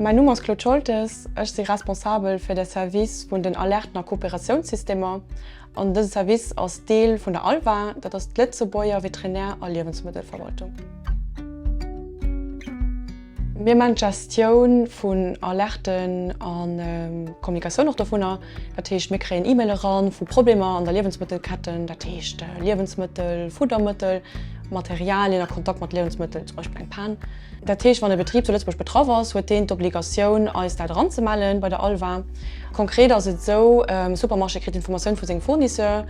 Mäin Numm ass Claude Scholtes, ech si responsabel fir de Service vun den Alerten a Kooperatiounssystemer. An dëse Service ass Deel vun der ALVA, dat ass d'Lëtzebuerger Veterinär a Liewensmëttelverwaltung. Mir man d'Gestioun vun Alerten an Kommunikatioun och dovunner. Dat heescht mir kréien E-Mail eran vu Problemer an der Liewensmëttelketten, dat heescht Liewensmëttel, Fuddermëttel, Materialien a Kontakt mat Liewensmëttel, zum Beispill eng Pan. Dat heescht wann e Betrib zu Lëtzebuerg betraff ass, huet deen d'Obligatioun eis dat eranzemellen bei der ALVA. Konkret ass et esou, e Supermarché kritt d'Informatioun vu sengem Fournisseur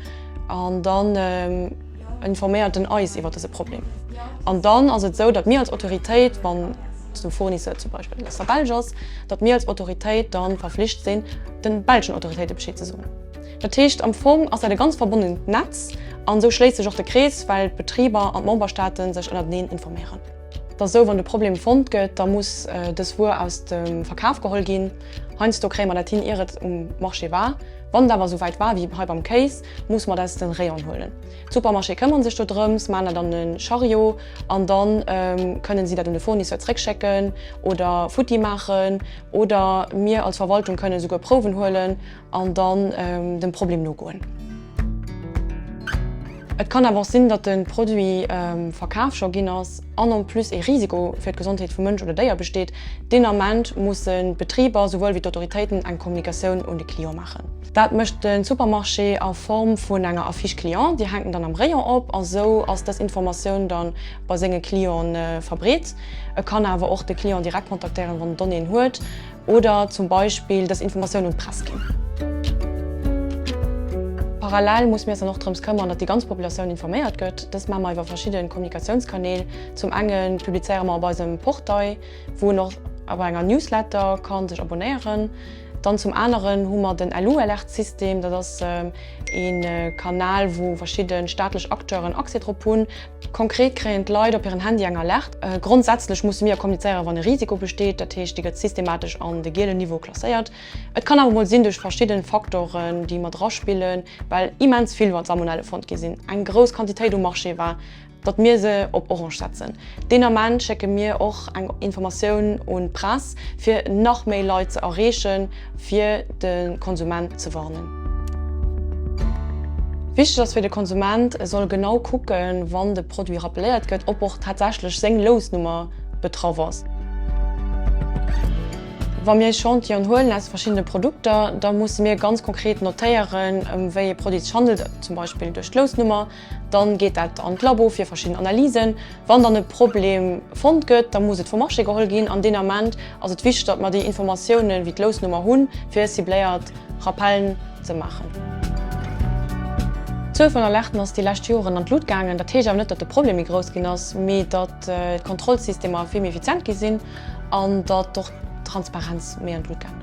an dann, Informéiert en eis iwwer dëse Problem. An dann ass et esou, datt mir als Autoritéit, wann de Fournisseur zum Beispill aus der Belsch ass, datt mir als Autoritéit da verflicht sinn, de belschen Autoritéite Bescheed ze soen. Dat heescht, am Fong ass dat e ganz verbonnent Netz. An esou schléisst sech och de Krees, well d'Betriber an d'Memberstaate sech ënnerteneen informéieren. Et ass esou, wann de Problem fonnt gëtt, da muss dës Wuer aus dem Verkaf geholl ginn. Heiansdo kréie mer dat hin, ier et um Marché war. Wann et awer esou wäit war wéi hei beim Kéis, muss mat aus den Rayon'en huelen. D'Supermarchéë këmmeren sech do drëms, maan dat an e Chariot an dann kënnen si dat un de Fournisseur zréck schécken oder futti maachen oder mir als Verwaltung kënnen esouguer Prouwen huelen an dann dem Problem nogoen. Et kann awer och sinn, dat de Produit verkaf scho ginn ass an en plus e Risiko fir d'Gesondheet vu Mënsch oder Déier besteet. Deen Ament mussen d'Betriber souwuel wéi d'Autoritéiten eng Kommunikatioun un de Client maachen. Dat mécht de Supermarché a Form vun enger Affiche Client. Déi hänkt en dann am Rayon op a sou ass dës Informatioun da bei senge Clientë verbreet. E kann awer och de Client direkt kontaktéieren, wann en Donnéeën huet oder zum Beispill dës Informatioun un d'Press ginn. Parallel musse mir eis dann och drëms këmmern, datt déi ganz Populatioun informéiert gëtt. Dëst maache mer iwwer verschidde Kommunikatiounskanäl. Zum enge publizéiere mer op eisem Portail, wou en och op enger Newsletter ka sech abonnéieren. Dann zum aneren hu mer den LU-Alerte-System, dat ass ee Kanal, wou verschidde staatlech Acteuren Accès drop hunn. Konkret kréien d'Leit op hiren Handy eng Alerte. Grondsätzlech musse mir kommunizéieren, wann e Risiko besteet, dat heescht, dee gëtt systematesch an de gielen Niveau klasséiert. Et kann awer mol sinn, duerch verschidde Faktoren, déi mat eraspillen, well immens vill Salmonelle fonnt gi sinn, eng grouss Quantitéit um Marché war, datt mir se op orange setzen, deen Ament schécke mir och eng Informatioun un d'Press fir nach méi Leit ze erreechen, fir de Konsument ze warnen. Wichteg ass fir de Konsument, e soll genau kucken, wann de Produit rappeléiert gëtt, ob och tatsächlech seng Lousnummer betraff ass. Wa mir Echantillonen huelen aus verschiddene Produkter, da musse mir ganz konkret notéieren, ëm wéi ee Produit et sech handelt, zum Beispill duerch d'Lousnummer. Dann geet dat an d'Labo fir verschidden Analysen. Wann dann e Problem fonnt gëtt, da muss et vum Marché geholl ginn. An deen Ament ass et wichteg, datt mer déi Informatiounen, wéi d'Lousnummer, hunn, fir cibléiert Rappellen ze maachen. D'Zuel vun Alerten ass déi lescht Joren an d'Lut gaangen. Dat heescht awer net, datt de Problem méi grouss ginn ass, mee datt d'Kontrollsystemer vill méi effizient gi sinn an datt och d'Transparenz méi an d'Lut gaangen ass.